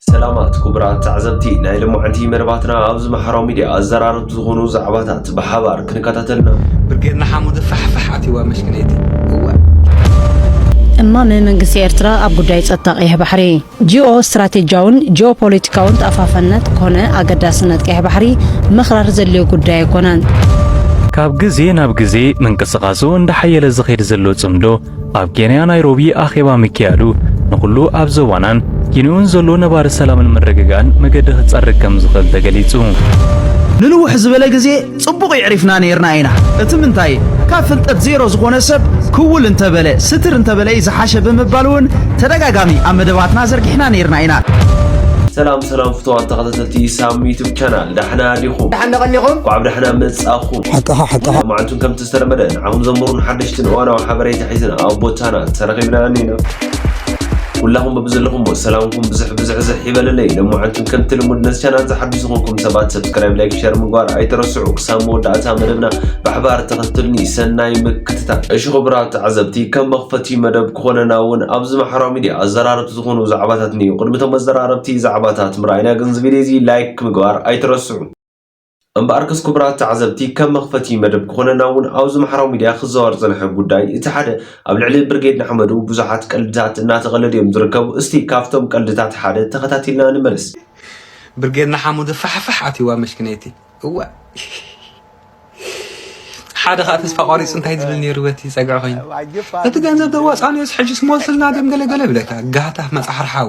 ሰላማት ኩቡራት ተዓዘብቲ ናይ ልማዓንቲ መደባትና ኣብዚ ማሕራዊ ሚድያ ኣዘራረብቲ ዝኮኑ ዛዕባታት ብሓባር ክንከታተል ኢና። ብርጌድ ንሓመዱ ፋሕ ፋሕ ኣትዩዋ መሽክነይቲ እዋእ። እማመ መንግስቲ ኤርትራ ኣብ ጉዳይ ጸጥታ ቀይሕ ባሕሪ፣ ጂኦ ስትራቴጂያውን ጂኦ ፖለቲካውን ተኣፋፍነት ኮነ ኣገዳስነት ቀይሕ ባሕሪ ምኽራር ዘድልዮ ጉዳይ ኣይኮነን። ካብ ግዜ ናብ ግዜ ምንቅስቓሱ እንዳሓየለ ዝኸይድ ዘሎ ጽምዶ፣ ኣብ ኬንያ ናይሮቢ ኣኼባ ምክያዱ ንኹሉ ኣብ ዞባናን ጊንኡን ዘሎ ነባሪ ሰላምን ምርግጋእን መገዲ ክጸርግ ከም ዝኽእል ተገሊጹ። ንንውሕ ዝበለ ግዜ ጽቡቕ ይዕሪፍና ነይርና ኢና እቲ ምንታይ ካብ ፍልጠት ዜሮ ዝኾነ ሰብ ክውል እንተበለ ስትር እንተበለ እዩ ዝሓሸ ብምባል እውን ተደጋጋሚ ኣብ መደባትና ዘርጊሕና ነይርና ኢና ሰላም ሰላም ፍትዋት ተኸታተልቲ ሳም ዩቱብ ቻናል ዳሕና ዲኹም ዳሕና ቀኒኹም ኳዕ ብዳሕና መጻኹም ሓቅኻ ሓቅኻ መዓልቱን ከምቲ ዝተለመደ ንዓኹም ዘምሩን ሓደሽትን እዋናዊ ሓበሬታ ሒዝና ኣብ ቦታና ተረኺብና ኣኒና ኩላኹም በብዘለኹምዎ ሰላምኩም ብዝሕ ብዝሕዝሕ ይበለለይ ለማዓንቱን ከምቲ ልሙድ ነዚ ቻናል ዝሓድሽ ዝኾንኩም ሰባት ሰብስክራይብ ላይክ ሸር ምግባር ኣይተረስዑ ክሳብ መወዳእታ መደብና ብሓባር ተኸትልኒ ሰናይ ምክትታል እሺ ክቡራት ተዓዘብቲ ከም መኽፈቲ መደብ ክኾነና እውን ኣብዚ ማሕበራዊ ሚድያ ኣዘራረብቲ ዝኾኑ ዛዕባታት እኒኡ ቅድሚ እቶም ኣዘራረብቲ ዛዕባታት ምርኣይና ግን እዚ ቪድዮ እዚ ላይክ ምግባር ኣይተረስዑ እምበኣርከስ ክቡራት ተዓዘብቲ ከም መኽፈቲ መደብ ክኾነና እውን ኣብዚ ማሕራዊ ሚድያ ክዘዋወር ዝጸንሐ ጉዳይ እቲ ሓደ ኣብ ልዕሊ ብርጌድ ንሓመዱ ብዙሓት ቀልድታት እናተቐለዱ እዮም ዝርከቡ እስቲ ካብቶም ቀልድታት ሓደ ተኸታቲልና ንመለስ። ብርጌድ ንሓመዱ ፋሕፋሕ ኣትይዋ መሽኪነይቲ እዋይ ሓደ ከዓ ተስፋ ቋሪፁ እንታይ ዝብል ነይሩ በቲ ፀግዒ ኮይኑ እቲ ገንዘብ ዘዋፃእናዮስ ሕጅስ ሞልስልና ደም ገለገለ ይብለካ ጋህታፍ መፃሕርሓዊ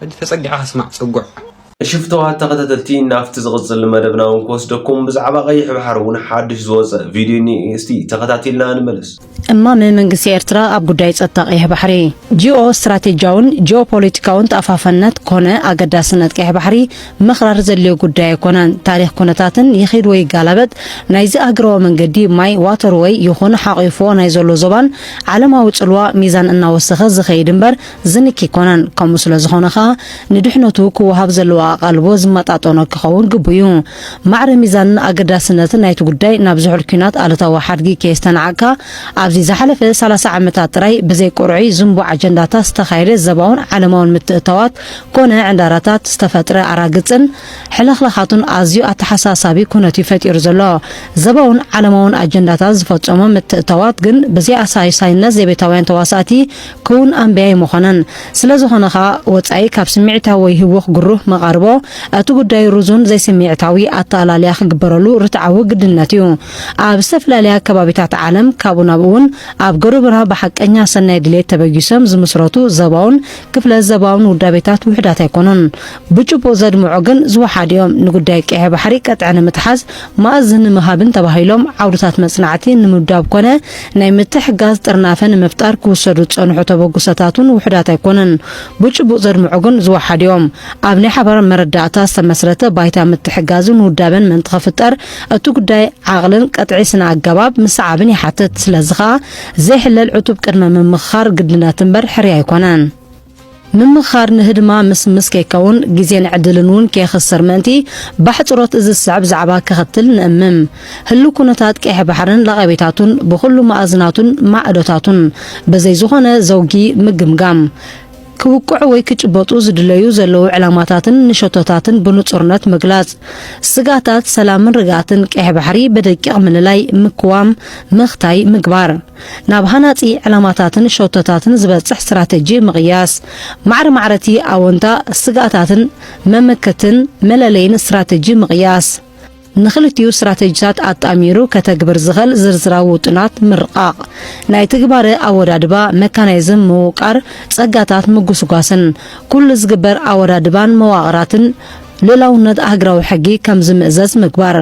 ሕጂ ተጸጊዕካ ስማዕ ጽጉዕ። ሽፍትዋት ተኸታተልቲ ናብቲ ዝቕጽል መደብና ውን ክወስደኩም ብዛዕባ ቀይሕ ባሕሪ ውን ሓድሽ ዝወጸ ቪድዮ እኒኤ እስቲ ተኸታቲልና ንመለስ። እማመ መንግስቲ ኤርትራ ኣብ ጉዳይ ጸጥታ ቀይሕ ባሕሪ፣ ጂኦ ስትራቴጂያውን ጂኦ ፖለቲካውን ተኣፋፍነት ኮነ ኣገዳስነት ቀይሕ ባሕሪ ምኽራር ዘድልዮ ጉዳይ ኣይኮነን። ታሪኽ ኩነታትን ይኺድ ወይ ይጋላበጥ ናይዚ ኣህግራዊ መንገዲ ማይ ዋተርወይ ይኹን ሓቚፉዎ ናይ ዘሎ ዞባን ዓለማዊ ጽልዋ ሚዛን እናወሰኸ ዝኸይድ እምበር ዝንኪ ኣይኮነን። ከምኡ ስለ ዝኾነ ከኣ ንድሕነቱ ክወሃብ ዘለዎ ኣቓልቦ ዝመጣጠኖ ክኸውን ግቡእ'ዩ። ማዕረ ሚዛንን ኣገዳስነትን ናይቲ ጉዳይ ናብ ዝሑል ኲናት ኣሉታዊ ሓድጊ ከየስተናዓቕካ፣ ኣብዚ ዝሓለፈ ሰላሳ ዓመታት ጥራይ ብዘይ ቅርዑይ ዝንቡዕ ኣጀንዳታት ዝተኻየደ ዘባውን ዓለማውን ምትእትታዋት ኮነ ዕንዳራታት ዝተፈጥረ ኣራግጽን ሕልኽላኻቱን ኣዝዩ ኣተሓሳሳቢ ኩነት'ዩ ፈጢሩ ዘሎ። ዘባውን ዓለማውን ኣጀንዳታት ዝፈጸሞም ምትእትታዋት ግን ብዘይኣሳሳይነት ዘቤታውያን ተዋሳእቲ ክዉን ኣንብያ ኣይመኾነን። ስለ ዝኾነ ከኣ ወጻኢ ካብ ስምዒታዊ ወይ ህዉኽ ግሩህ መቓርቦ፣ እቲ ጉዳይ ርዙን ዘይስምዒታዊ ኣተኣላልያ ክግበረሉ ርትዓዊ ግድነት እዩ። ኣብ ዝተፈላለየ ኣከባቢታት ዓለም፣ ካብኡ ናብኡ ውን ኣብ ገሩብና ብሓቀኛ ሰናይ ድሌት ተበጊሶም ዝምስረቱ ዘባውን ክፍለ ዘባውን ውዳቤታት ውሑዳት ኣይኮኑን። ብጭቡጥ ዘድምዑ ግን ዝወሓዱ እዮም። ንጉዳይ ቀይሕ ባሕሪ ቅጥዒ ንምትሓዝ፣ ማእዝ ንምሃብን ተባሂሎም ዓውድታት መጽናዕቲ ንምውዳብ ኮነ ናይ ምትሕግጋዝ ጥርናፈ ንምፍጣር ክውሰዱ ዝጸንሑ ተበግሶታት'ውን ውሑዳት ኣይኮኑን። ብጭቡጥ ዘድምዑ ግን ዝወሓዱ እዮም። ኣብ ናይ ሓባር መረዳእታ ዝተመስረተ ባይታ ምትሕግጋዝን ውዳበን ምእንቲ ክፍጠር፣ እቲ ጉዳይ ዓቕልን ቅጥዒ ስነ-ኣገባብ ምስዓብን ይሓትት። ስለዚ ከኣ ዘይሕለል ዕቱብ ቅድመ-ምምኽኻር ግድነት እምበር ሕርያ ኣይኮነን። ምምኽኻር ንህድማ ምስምስ ከይከውን ግዜን ዕድልን እውን ከየኽስር ምእንቲ፣ ባሕጽሮት እዚ ዝስዕብ ዛዕባ ከኸትል ንእምም። ህሉው ኩነታት ቀይሕ ባሕርን ለቐቤታቱን፣ ብኹሉ መኣዝናቱን ማዕዶታቱን፣ ብዘይ ዝኾነ ዘውጊ ምግምጋም። ክውቅዑ ወይ ክጭበጡ ዝድለዩ ዘለዉ ዕላማታትን ንሸቶታትን ብንጹርነት ምግላጽ። ስጋታት ሰላምን ርግኣትን ቀይሕ ባሕሪ ብደቂቕ ምልላይ፣ ምክዋም፣ ምኽታይ፣ ምግባር። ናብ ሃናጺ ዕላማታትን ሸቶታትን ዝበጽሕ ስትራተጂ ምቕያስ፣ ማዕረ ማዕረ'ቲ ኣወንታ፣ ስግኣታትን መመከትን መለለይን ስትራተጂ ምቕያስ። ንክልቲኡ ስትራተጂታት ኣጣሚሩ ከተግብር ዝኸል ዝርዝራዊ ውጥናት ምርቓቕ። ናይ ትግባረ ኣወዳድባ፣ መካናይዝም ምውቃር፣ ጸጋታት ምጉስጓስን ኩሉ ዝግበር ኣወዳድባን መዋቕራትን ልኡላውነት ኣህግራዊ ሕጊ ከም ዝምእዘዝ ምግባር፣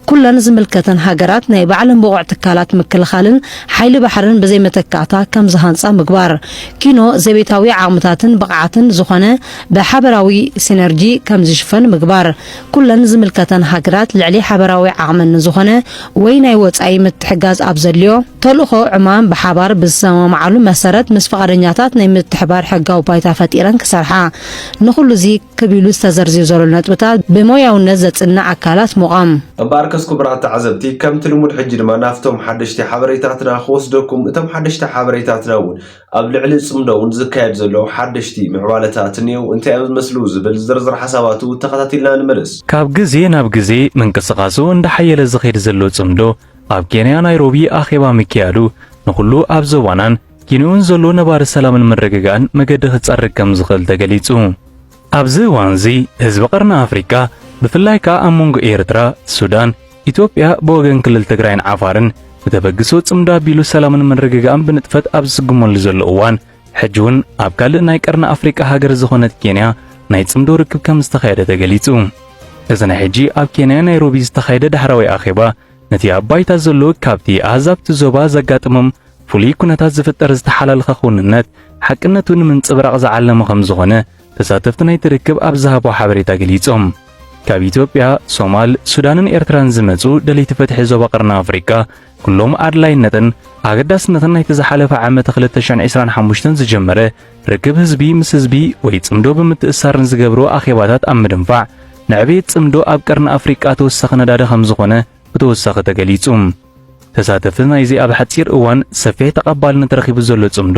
ኩለን ዝምልከተን ሃገራት ናይ ባዕለን ብቑዕ ትካላት ምክልኻልን ሓይሊ ባሕርን ብዘይ መተካእታ ከም ዝሃንጻ ምግባር፣ ኪኖ ዘቤታዊ ዓቕምታትን ብቕዓትን ዝኾነ ብሓበራዊ ሲነርጂ ከም ዝሽፈን ምግባር፣ ኩለን ዝምልከተን ሃገራት ልዕሊ ሓበራዊ ዓቕመን ንዝኾነ ወይ ናይ ወጻኢ ምትሕጋዝ ኣብ ዘድልዮ ተልእኾ ዕማም ብሓባር ብዝሰማምዓሉ መሰረት ምስ ፍቓደኛታት ናይ ምትሕባር ሕጋዊ ባይታ ፈጢረን ክሰርሓ፣ ንኹሉ'ዚ። ክብ ኢሉ ዝተዘርዝዩ ዘሎ ነጥብታት ብሞያውነት ዘጽንዕ ኣካላት ምቛም። እምበኣርከስ ኩቡራት ተዓዘብቲ ከምቲ ልሙድ ሕጂ ድማ ናብቶም ሓደሽቲ ሓበሬታትና ክወስደኩም እቶም ሓደሽቲ ሓበሬታትና ውን ኣብ ልዕሊ ጽምዶ ውን ዝካየድ ዘሎ ሓደሽቲ ምዕባለታት እንየው እንታይ እዮም ዝመስሉ ዝብል ዝርዝር ሓሳባቱ ተኸታቲልና ንመለስ። ካብ ግዜ ናብ ግዜ ምንቅስቃሱ እንዳሓየለ ዝኸይድ ዘሎ ጽምዶ ኣብ ኬንያ ናይሮቢ ኣኼባ ምክያዱ ንኹሉ ኣብ ዞባናን ጊኒኡን ዘሎ ነባሪ ሰላምን ምርግጋእን መገዲ ክጸርግ ከም ዝኽእል ተገሊጹ። ኣብዚ እዋንዚ ህዝቢ ቀርኒ ኣፍሪቃ ብፍላይ ከኣ ኣብ መንጎ ኤርትራ፣ ሱዳን፣ ኢትዮጵያ ብወገን ክልል ትግራይን ዓፋርን ብተበግሶ ጽምዶ ኣቢሉ ሰላምን ምርግጋእን ብንጥፈት ኣብ ዝስጉመሉ ዘሎ እዋን ሕጂ እውን ኣብ ካልእ ናይ ቀርኒ ኣፍሪቃ ሃገር ዝኾነት ኬንያ ናይ ጽምዶ ርክብ ከም ዝተኻየደ ተገሊጹ። እዚ ናይ ሕጂ ኣብ ኬንያ ናይሮቢ ዝተኻየደ ዳሕራዊ ኣኼባ ነቲ ኣብ ባይታ ዘሎ ካብቲ ኣህዛብቲ ዞባ ዘጋጥሞም ፍሉይ ኩነታት ዝፍጠር ዝተሓላለኸ ክውንነት ሓቅነቱ ንምንጽብራቕ ዝዓለመ ከም ዝኾነ ተሳተፍቲ ናይቲ ርክብ ኣብ ዝሃቦ ሓበሬታ ገሊጾም። ካብ ኢትዮጵያ፣ ሶማል፣ ሱዳንን ኤርትራን ዝመጹ ደለይቲ ፍትሒ ዞባ ቀርኒ ኣፍሪቃ ኩሎም ኣድላይነትን ኣገዳስነትን ናይቲ ዝሓለፈ ዓመት 2025 ዝጀመረ ርክብ ህዝቢ ምስ ህዝቢ ወይ ጽምዶ ብምትእሳር ንዝገብርዎ ኣኼባታት ኣብ ምድንፋዕ ንዕብየት ጽምዶ ኣብ ቀርኒ ኣፍሪቃ ተወሳኺ ነዳዲ ከም ዝኾነ ብተወሳኺ ተገሊጹ። ተሳተፍቲ ናይዚ ኣብ ሓጺር እዋን ሰፊሕ ተቐባልነት ረኺቡ ዘሎ ጽምዶ፣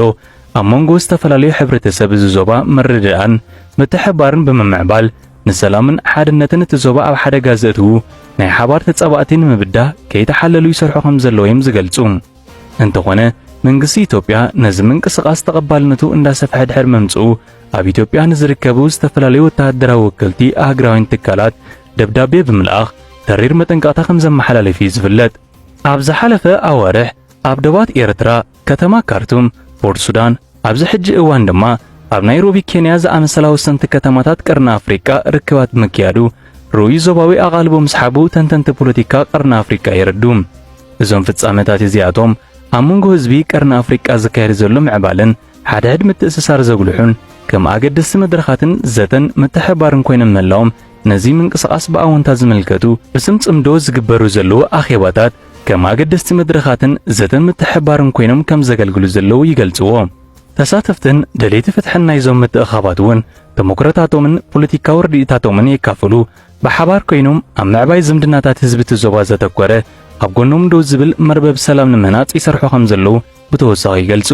ኣብ መንጎ ዝተፈላለዩ ሕብረተሰብ እዚ ዞባ ምርድዳእን ምትሕብባርን ብምምዕባል፣ ንሰላምን ሓድነትን እቲ ዞባ ኣብ ሓደጋ ዘእትዉ ናይ ሓባር ተጻባእቲ ንምብዳህ ከይተሓለሉ ይሰርሑ ከምዘለዉ'ዮም ዝገልጹ። እንተኾነ መንግስቲ ኢትዮጵያ ነዚ ምንቅስቓስ ተቐባልነቱ እንዳሰፍሐ ድሕር ምምጽኡ ኣብ ኢትዮጵያ ንዝርከቡ ዝተፈላለዩ ወተሃደራዊ ወከልቲ ኣህግራውያን ትካላት ደብዳቤ ብምልኣኽ ተሪር መጠንቀቕታ ከም ዘመሓላለፍ እዩ ዝፍለጥ። ኣብ ዝሓለፈ ኣዋርሕ ኣብ ደባት ኤርትራ ከተማ ካርቱም ፖርት ሱዳን ኣብዚ ሕጂ እዋን ድማ ኣብ ናይሮቢ ኬንያ ዝኣመሰላ ወሰንቲ ከተማታት ቀርኒ ኣፍሪቃ ርክባት ብምክያዱ ርኡይ ዞባዊ ኣቓልቦ ምስሓቡ ተንተንቲ ፖለቲካ ቀርኒ ኣፍሪቃ የረዱ። እዞም ፍጻመታት እዚኣቶም ኣብ መንጎ ህዝቢ ቀርኒ ኣፍሪቃ ዝካየድ ዘሎ ምዕባለን ሓድሕድ ምትእስሳር ዘጉልሑን ከም ኣገደስቲ መድረኻትን ዘተን ምትሕብባርን ኮይኖም ምህላዎም ነዚ ምንቅስቓስ ብኣወንታ ዝምልከቱ ብስም ጽምዶ ዝግበሩ ዘለዉ ኣኼባታት ከም ኣገደስቲ መድረኻትን ዘተ ምትሕብባርን ኮይኖም ከም ዘገልግሉ ዘለዉ ይገልጽዎ። ተሳተፍትን ደለይቲ ፍትሕን ናይዞም ምትእኽኻባት እውን ተሞክሮታቶምን ፖለቲካዊ ርድኢታቶምን የካፍሉ፣ ብሓባር ኮይኖም ኣብ ምዕባይ ዝምድናታት ህዝቢ እቲ ዞባ ዘተኮረ ኣብ ጎኖም ደው ዝብል መርበብ ሰላም ንምህናጽ ይሰርሑ ከም ዘለዉ ብተወሳኺ ይገልጹ።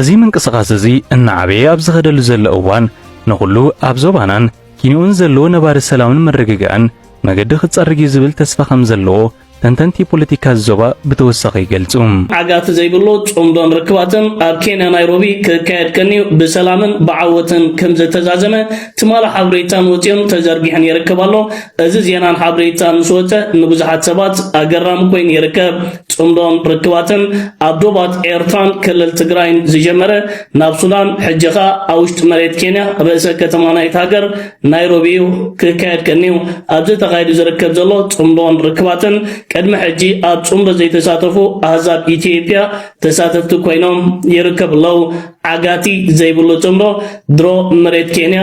እዚ ምንቅስቓስ እዚ እናዓበየ ኣብ ዝኸደሉ ዘሎ እዋን ንኹሉ ኣብ ዞባናን ኪንዮ'ውን ዘሎ ነባሪ ሰላምን ምርግጋእን መገዲ ክጸርግ'ዩ ዝብል ተስፋ ከም ዘለዎ ተንተንቲ ፖለቲካ'ዚ ዞባ ብተወሳኺ ይገልጹ። ዓጋቲ ዘይብሉ ጽምዶን ርክባትን ኣብ ኬንያ ናይሮቢ ክካየድ ቀንዩ ብሰላምን ብዓወትን ከም ዝተዛዘመ ትማሊ ሓብሬታን ወጺኡን ተዘርጊሑን ይርከብ ኣሎ። እዚ ዜናን ሓብሬታን ምስ ወጸ ንብዙሓት ሰባት ኣገራሚ ኮይኑ ይርከብ። ጽምዶን ርክባትን ኣብ ዶባት ኤርትራን ክልል ትግራይን ዝጀመረ ናብ ሱዳን ሕጂ ከኣ ኣብ ውሽጢ መሬት ኬንያ ርእሰ ከተማ ናይቲ ሃገር ናይሮቢ እዩ ክካየድ ቀንዩ። ኣብዚ ተኻይዱ ዝርከብ ዘሎ ጽምዶን ርክባትን ቅድሚ ሕጂ ኣብ ጽምዶ ዘይተሳተፉ ኣህዛብ ኢትዮጵያ ተሳተፍቲ ኮይኖም ይርከቡ ኣለዉ። ዓጋቲ ዘይብሉ ጽምዶ ድሮ መሬት ኬንያ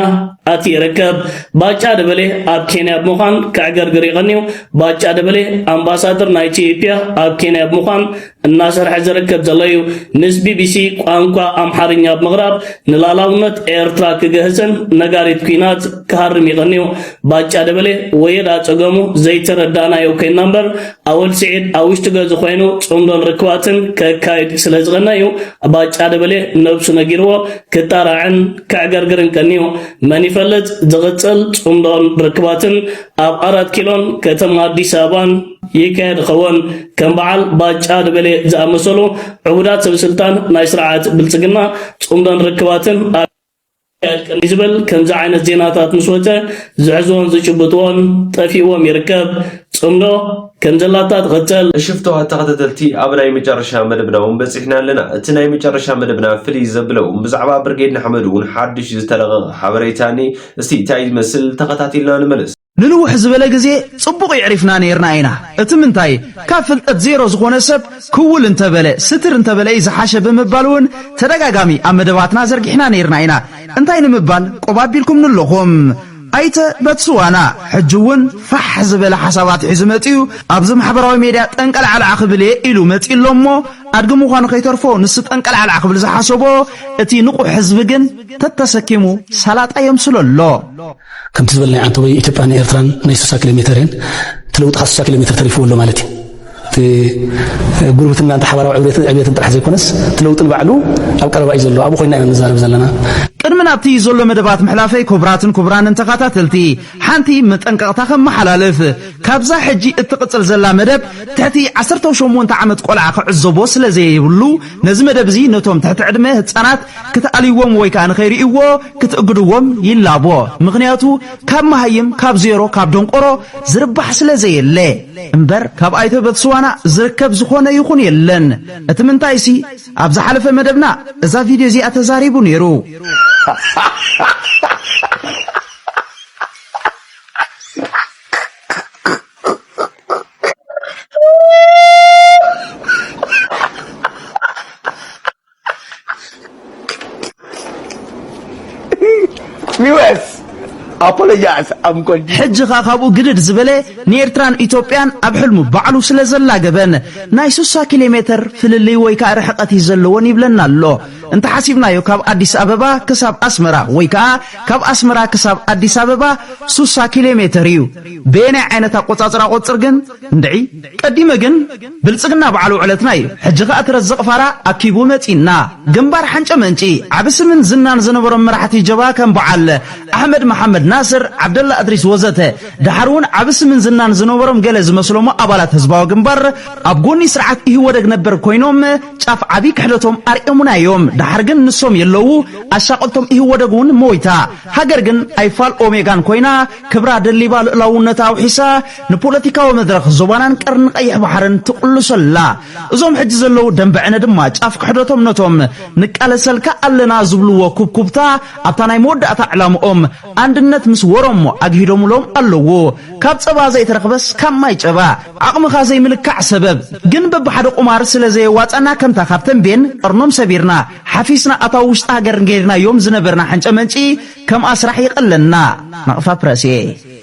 ኣቲ ይርከብ። ባጫ ደበሌ ኣብ ኬንያ ብምዃን ከዕገርግር ይቐንዩ። ባጫ ደበሌ ኣምባሳደር ናይ ኢትዮጵያ ኣብ ኬንያ ብምዃን እናሰርሐ ዝርከብ ዘሎ እዩ። ምስ ቢቢሲ ቋንቋ ኣምሓርኛ ብምቕራብ ንላላውነት ኤርትራ ክገህጽን ነጋሪት ኩናት ክሃርም ይቐንዩ። ባጫ ደበሌ ወየዳ ጸገሙ ዘይተረዳእናዮ ኮይና እምበር ኣወል ስዒድ ኣብ ውሽጢ ገዙ ኮይኑ ጽምዶን ርክባትን ከካይድ ስለ ዝቐነ እዩ ባጫ ደበሌ ነብሱ ነጊርዎ ክጣራዕን ከዕገርግርን ቀንዩ። መን ይፈልጥ ዝቕጽል ጽምዶን ርክባትን ኣብ ኣራት ኪሎን ከተማ ኣዲስ ኣበባን ይካየድ ኸውን። ከም በዓል ባጫ ደበሌ ዝኣመሰሉ ዕቡዳት ሰበስልጣን ናይ ስርዓት ብልጽግና ጽምዶን ርክባትን ኣካየድክን ዝብል ከምዚ ዓይነት ዜናታት ምስ ወጸ ዝሕዝዎን ዝጭብጥዎን ጠፊእዎም ይርከብ። ጽምዶ ከም ዘላታ ትቕጽል። ሽፍተዋ ተኸታተልቲ ኣብ ናይ መጨረሻ መደብና እውን በፂሕና ኣለና እቲ ናይ መጨረሻ መደብና ፍልይ ዘብለ እውን ብዛዕባ ብርጌድ ንሓመዱ እውን ሓዱሽ ዝተለቐቐ ሓበሬታ እኒ እስቲ እንታይ ዝመስል ተኸታቲልና ንመለስ ንንውሕ ዝበለ ግዜ ጽቡቕ የዕሪፍና ኔርና ኢና፣ እቲ ምንታይ ካብ ፍልጠት ዜሮ ዝኾነ ሰብ ክውል እንተበለ ስትር እንተበለ እዩ ዝሓሸ ብምባል እውን ተደጋጋሚ ኣብ መደባትና ዘርጊሕና ኔርና ኢና፣ እንታይ ንምባል ቆብ ኣቢልኩምኒ ኣለኹም። ኣይተ በትስዋና ሕጂ እውን ፋሕ ዝበለ ሓሳባት ሒዙ መጺኡ ኣብዚ ማሕበራዊ ሜድያ ጠንቀልዓልዓ ክብል እየ ኢሉ መጺኡ ኣሎ እሞ ኣድጊ ምዃኑ ከይተርፎ ንሱ ጠንቀልዓልዓ ክብል ዝሓሰቦ እቲ ንቑሕ ህዝቢ ግን ተተሰኪሙ ሰላጣ የምስሎ ኣሎ። ከምቲ ዝበልናዮ ዓንተቦይ ኢትዮጵያን ንኤርትራን ናይ ሱሳ ኪሎ ሜተር እየን። እቲ ለውጢ ካብ ሱሳ ኪሎ ሜተር ተሪፍዎ ኣሎ ማለት እዩ። እቲ ጉርብትና እንተ ሓባራዊ ዕብየትን ዕብየትን ጥራሕ ዘይኮነስ እቲ ለውጢ ንባዕሉ ኣብ ቀረባ እዩ ዘሎ ኣብኡ ኮይና ኢና ንዛረብ ዘለና። ቅድሚ ናብቲ ዘሎ መደባት ምሕላፈይ ኩቡራትን ኩቡራንን ተኻታተልቲ ሓንቲ መጠንቀቕታ ከመሓላልፍ ካብዛ ሕጂ እትቕጽል ዘላ መደብ ትሕቲ ዓሰርተው ሸሞንተ ዓመት ቆልዓ ክዕዘቦ ስለዘየብሉ ነዚ መደብ እዚ ነቶም ትሕቲ ዕድመ ህጻናት ክትኣልይዎም ወይ ከኣ ንኸይርእይዎ ክትእግድዎም ይላቦ ምኽንያቱ ካብ መሃይም ካብ ዜሮ ካብ ደንቆሮ ዝርባሕ ስለ ዘየለ እምበር ካብ ኣይተ በትስዋና ዝርከብ ዝኾነ ይኹን የለን እቲ ምንታይሲ ኣብ ዝሓለፈ መደብና እዛ ቪድዮ እዚኣ ተዛሪቡ ኔሩ US apologize. I'm continuing. ሕጂ ኸኣ ካብኡ ግድድ ዝበለ ንኤርትራን ኢትዮጵያን ኣብ ሕልሙ ባዕሉ ስለ ዘላገበን ናይ 60 ኪሎ ሜተር ፍልልይ ወይ ከዓ ርሕቐት እዩ ዘለዎን ይብለና ኣሎ እንተሓሲብናዮ ካብ ኣዲስ ኣበባ ክሳብ ኣስመራ ወይ ከዓ ካብ ኣስመራ ክሳብ ኣዲስ ኣበባ 60 ኪሎ ሜተር እዩ በየናይ ዓይነት ኣቆፃፅራ ቆፅር ግን እንድዒ ቀዲመ ግን ብልጽግና ባዕሉ ዕለትና ኢዩ ሕጂ ከኣ ትረዝቅ ፋራ ኣኪቡ መጺና ግንባር ሓንጨ መንጪ ዓቢ ስምን ዝናን ዝነበሮም መራሕቲ ጀብሃ ከም ባዓል ኣሕመድ መሓመድ ናስር ዓብደላ እድሪስ ወዘተ ዳሓር ውን ዓቢ ስምን ዝናን ዝነበሮም ገለ ዝመስሎሞ ኣባላት ህዝባዊ ግንባር ኣብ ጎኒ ስርዓት ኢህወደግ ነበር ኮይኖም ጫፍ ዓቢ ክሕደቶም ኣርእዮሙና ኢዮም ዳሓር ግን ንሶም የለዉ ኣሻቀልቶም ኢህወደግ ውን ሞይታ ሃገር ግን ኣይፋል ኦሜጋን ኮይና ክብራ ደሊባ ልእላውነታ ኣውሒሳ ንፖለቲካዊ መድረኽ ዞባናን ቀርኒ ቀይሕ ባሕርን ትቕልሶ ኣላ። እዞም ሕጂ ዘለዉ ደንበ ዕነ ድማ ጫፍ ክሕደቶም ነቶም ንቃለሰልካ ኣለና ዝብልዎ ኩብኩብታ ኣብታ ናይ መወዳእታ ዕላምኦም ኣንድነት ምስ ወሮሞ ኣግሂዶምሎም ኣለዉ። ካብ ጸባ ዘይተረኽበስ ካብ ማይ ጨባ። ዓቕምኻ ዘይምልካዕ ሰበብ ግን በብሓደ ቁማር ስለ ዘየዋጸኣና ከምታ ካብ ተምቤን ቀርኖም ሰቢርና ሓፊስና ኣታዊ ውሽጢ ሃገር ገይርናዮም ዝነበርና ሕንጨመንጪ ከምኣ ስራሕ ይቐለና። ናቕፋ ፕረስ።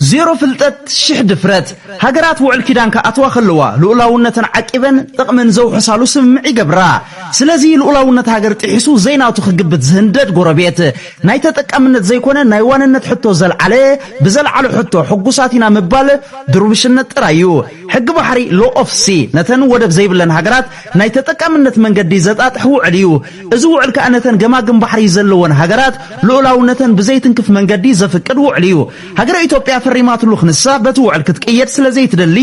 ዜሮ ፍልጠት ሽሕ ድፍረት! ሃገራት ውዕል ኪዳን ክኣትዋ ከለዋ ልኡላውነተን ዓቂበን ጥቕሚ ንዘውሕሳሉ ስምምዕ ይገብራ። ስለዚ ልኡላውነት ሃገር ጥሒሱ ዘይናቱ ክግብት ዝህንደድ ጎረቤት፣ ናይ ተጠቃምነት ዘይኮነ ናይ ዋንነት ሕቶ ዘልዓለ ብዘልዓሎ ሕቶ ሕጉሳት ኢና ምባል ድርቡሽነት ጥራይ እዩ። ሕጊ ባሕሪ፣ Law of Sea፣ ነተን ወደብ ዘይብለን ሃገራት ናይ ተጠቃምነት መንገዲ ዘጣጥሕ ውዕል እዩ። እዚ ውዕል ከኣ ነተን ገማግም ባሕሪ ዘለወን ሃገራት ልኡላውነተን ብዘይትንክፍ መንገዲ ዘፍቅድ ውዕል እዩ። ሃገረ ኢትዮጵያ ፈሪማትሉ ክንሳ በቲ ውዕል ክትቅየድ ስለ ዘይትደሊ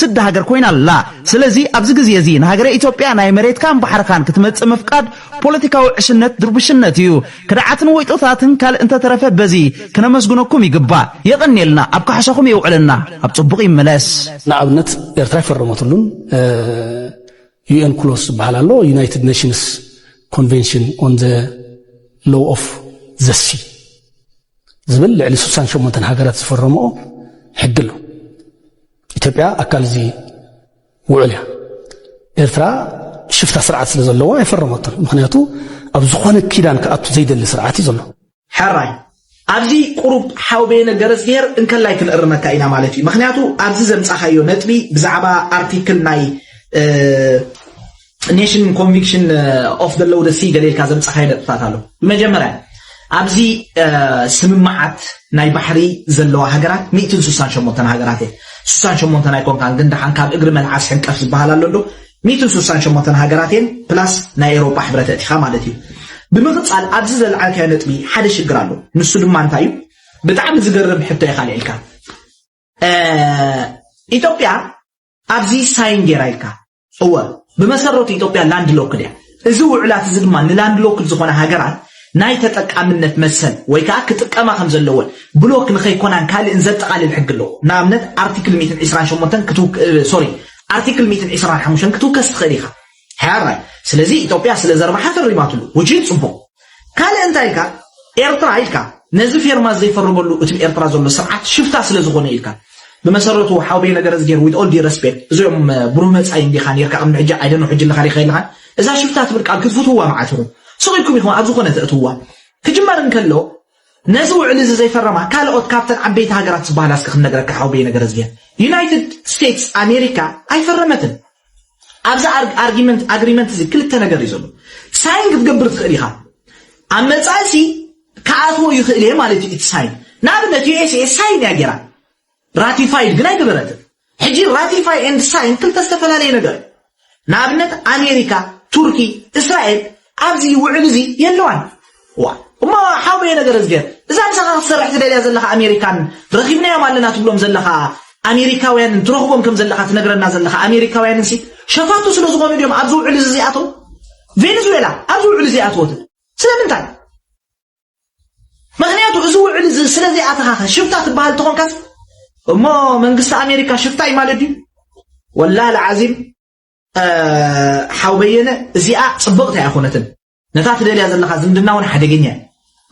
ስዲ ሃገር ኮይና ኣላ። ስለዚ ኣብዚ ግዜ እዚ ንሃገረ ኢትዮጵያ ናይ መሬትካን ባሕርኻን ክትመጽእ ምፍቃድ ፖለቲካዊ ዕሽነት ድርቡሽነት እዩ። ከደዓትን ወይጦታትን ካልእ እንተተረፈ በዚ ክነመስግነኩም ይግባእ። የቐንየልና ኣብ ካሕሳኹም የውዕለና። ኣብ ጽቡቕ ይመለስ። ንኣብነት ኤርትራ ኣይፈረመትሉን። ዩኤንክሎስ ዝበሃል ኣሎ ዩናይትድ ኔሽንስ ኮንቨንሽን ኦን ዘ ሎው ኦፍ ዘሲ ዝብል ልዕሊ 68 ሃገራት ዝፈረምኦ ሕጊ ኣሎ ኢትዮጵያ ኣካል እዚ ውዕል እያ ኤርትራ ሽፍታ ስርዓት ስለ ዘለዋ ኣይፈረመቶን ምክንያቱ ኣብ ዝኾነ ኪዳን ክኣቱ ዘይደሊ ስርዓት እዩ ዘሎ ሕራይ ኣብዚ ቁሩብ ሓው በየነ ገረዝግሄር እንከላይ ክንእርመካ ኢና ማለት እዩ ምክንያቱ ኣብዚ ዘምጻኻዮ ነጥቢ ብዛዕባ ኣርቲክል ናይ ኔሽን ኮንቪክሽን ኦፍ ዘ ሎው ሲ ገለ ኢልካ ዘምጻኻዮ ነጥብታት ኣሎ ብመጀመርያ ኣብዚ ስምምዓት ናይ ባሕሪ ዘለዋ ሃገራት ሚእትን ስሳን ሸሞንተን ሃገራት እየ ስሳን ሸሞንተን ኣይኮንካን ግን ደሓን ካብ እግሪ መልዓስ ሕንቀፍ ዝበሃል ኣሎ ዶ ሚእትን ሱሳን ሸሞንተን ሃገራት እየን ፕላስ ናይ ኤሮጳ ሕብረት ኣእቲኻ ማለት እዩ። ብምቅጻል ኣብዚ ዘልዓልካዮ ነጥቢ ሓደ ሽግር ኣሎ ንሱ ድማ እንታይ እዩ ብጣዕሚ ዝገርም ሕቶ ኢኻ ኣልዒልካ ኢትዮጵያ ኣብዚ ሳይን ጌራ ኢልካ እወ ብመሰረቱ ኢትዮጵያ ላንድ ሎክድ እያ እዚ ውዕላት እዚ ድማ ንላንድሎክድ ዝኾና ሃገራት ናይ ተጠቃምነት መሰል ወይ ከኣ ክጥቀማ ከም ዘለወን ብሎክ ንኸይኮናን ካልእን ዘጠቓልል ሕጊ ኣለዎ። ንኣብነት ኣርቲክል ሚእትን ዒስራን ሸሞንተን ክትው ሶሪ ኣርቲክል ሚእትን ዒስራን ሓሙሽተን ክትውከስ ትኽእል ኢኻ። ሕራይ ስለዚ ኢትዮጵያ ስለ ዘርባሓ ፈሪማትሉ። ውጂል ጽቡቕ። ካልእ እንታይ ኢልካ ኤርትራ ኢልካ ነዚ ፌርማ ዘይፈርመሉ እትብ ኤርትራ ዘሎ ስርዓት ሽፍታ ስለ ዝኾነ ኢልካ ብመሰረቱ ሓውቤ ነገረዝጌር with all due respect እዚኦም ብሩህ መጻኢ እንዲኻ ኔርካ ቅድሚ ሕጂ I don't know ሕጂ ኣለኻ ዲኻ የለኻን እዛ ሽፍታ ትብል ቃል ክትፍትውዋ መዓት ኢኹም ስቕ ኢልኩም ኢኹም ኣብ ዝኾነ ተእትውዋ ክጅመር እንከሎ ነዚ ውዕሊ እዚ ዘይፈረማ ካልኦት ካብተን ዓበይቲ ሃገራት ዝበሃላ እስከ ክንነግረካ ሓውቤ ነገረዝጌር ዩናይትድ ስቴትስ ኣሜሪካ ኣይፈረመትን ኣብዚ ኣርጊመንት ኣግሪመንት እዚ ክልተ ነገር እዩ ዘሎ ሳይን ክትገብር ትኽእል ኢኻ ኣብ መጻኢ ሲ ክኣትዎ ይኽእል እየ ማለት እዩ እቲ ሳይን ንኣብነት ዩኤስኤ ሳይን እያ ጌራ ራቲፋይድ ግን ኣይገበረትን ሕጂ ራቲፋይ ኤንድ ሳይን ክልተ ዝተፈላለየ ነገር እዩ ንኣብነት ኣሜሪካ ቱርኪ እስራኤል ኣብዚ ውዕል እዚ የለዋን ዋይ እሞ ሓውየ ነገረዝግሄር እዛ ምሳኻ ክትሰርሕ ትደልያ ዘለኻ ኣሜሪካን ረኺብናዮም ኣለና ትብሎም ዘለኻ ኣሜሪካውያንን ትረኽቦም ከም ዘለኻ ትነግረና ዘለኻ ኣሜሪካውያንን ሲ ሸፋቱ ስለ ዝኾኑ ድዮም ኣብዚ ውዕል እዚ ዚኣተው ቬኔዙዌላ ኣብዚ ውዕል እዚ ኣተወትን ስለምንታይ ምክንያቱ እዚ ውዕል እዚ ስለ ዘይኣተኻኸ ሽፍታ ትበሃል ተኾንካስ እሞ መንግስቲ ኣሜሪካ ሽፍታ እዩ ማለት ድዩ ወላ ልዓዚም ሓው በየነ እዚኣ ፅብቕቲ ኣይኮነትን ነታ ትደልያ ዘለኻ ዝምድና ውን ሓደገኛ እዩ።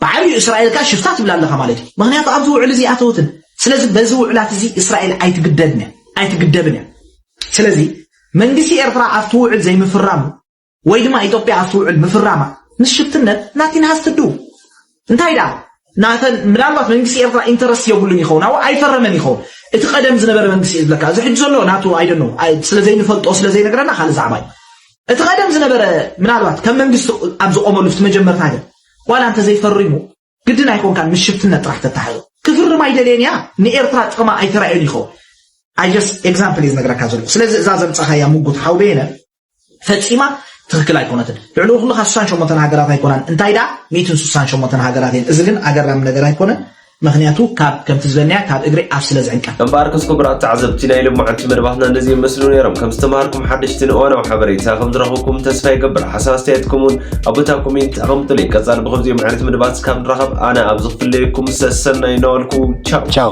ብዓብዩ እስራኤል ከኣ ሽፍታ ትብላ ኣለኻ ማለት እዩ። ምኽንያቱ ኣብዚ ውዕል እዚ ኣተወትን። ስለዚ በዚ ውዕላት እዚ እስራኤል ኣይትግደድን እያ፣ ኣይትግደብን እያ። ስለዚ መንግስቲ ኤርትራ ኣብቲ ውዕል ዘይምፍራሙ ወይ ድማ ኢትዮጵያ ኣብቲ ውዕል ምፍራማ ምስ ሽፍትነት ናቲን ሃዝትድው እንታይ ደኣ ናተን ምናልባት መንግስቲ ኤርትራ ኢንተረስት የብሉን ይኸውን ኣው ኣይፈረመን ይኸውን እቲ ቀደም ዝነበረ መንግስቲ እዩ ዝብለካ እዚ ሕጂ ዘሎ ናቱ ኣይደኖ ስለ ዘይንፈልጦ ስለ ዘይነግረና ካልእ ዛዕባ እዩ እቲ ቀደም ዝነበረ ምናልባት ከም መንግስቲ ኣብ ዝቆመሉ ፍቲ መጀመርታ ግን ዋላ እንተ ዘይፈሪሙ ግድን ኣይኮንካን ምስ ሽፍትነት ጥራሕ ተታሓዞ ክፍርም ኣይደልየን እያ ንኤርትራ ጥቕማ ኣይተራእዮን ይኸውን ኣይ ጀስት ኤግዛምፕል እዩ ዝነግረካ ዘለኹ ስለዚ እዛ ዘምጻኻያ ምጉት ሓውበየነ ፈጺማ ትክክል ኣይኮነትን ልዕሊ ኩሉ ካብ ስሳን ሸሞንተን ሃገራት ኣይኮናን እንታይ ደኣ ሚእትን ስሳን ሸሞንተን ሃገራት እየን እዚ ግን ኣገራሚ ነገር ኣይኮነን ምክንያቱ ካብ ከምቲ ዝበልናያ ካብ እግሪ ኣፍ ስለ ዝዕንቀፍ እምበኣርከስ ክቡራት ተዓዘብቲ ናይ ሎማዓንቲ መደባትና እነዚ ይመስሉ ነይሮም ከም ዝተምሃርኩም ሓደሽትን እዋናዊ ሓበሬታ ከም ዝረኸብኩም ተስፋ ይገብር ሓሳብ ኣስተያየትኩም እውን ኣብ ቦታ ኮሜንት ኣቐምጡለይ ቀጻሊ ብከምዚኦም ዓይነት መደባት ካብ ንራኸብ ኣነ ኣብ ዝፍለየኩም ሰሰናይ እናበልኩ ቻው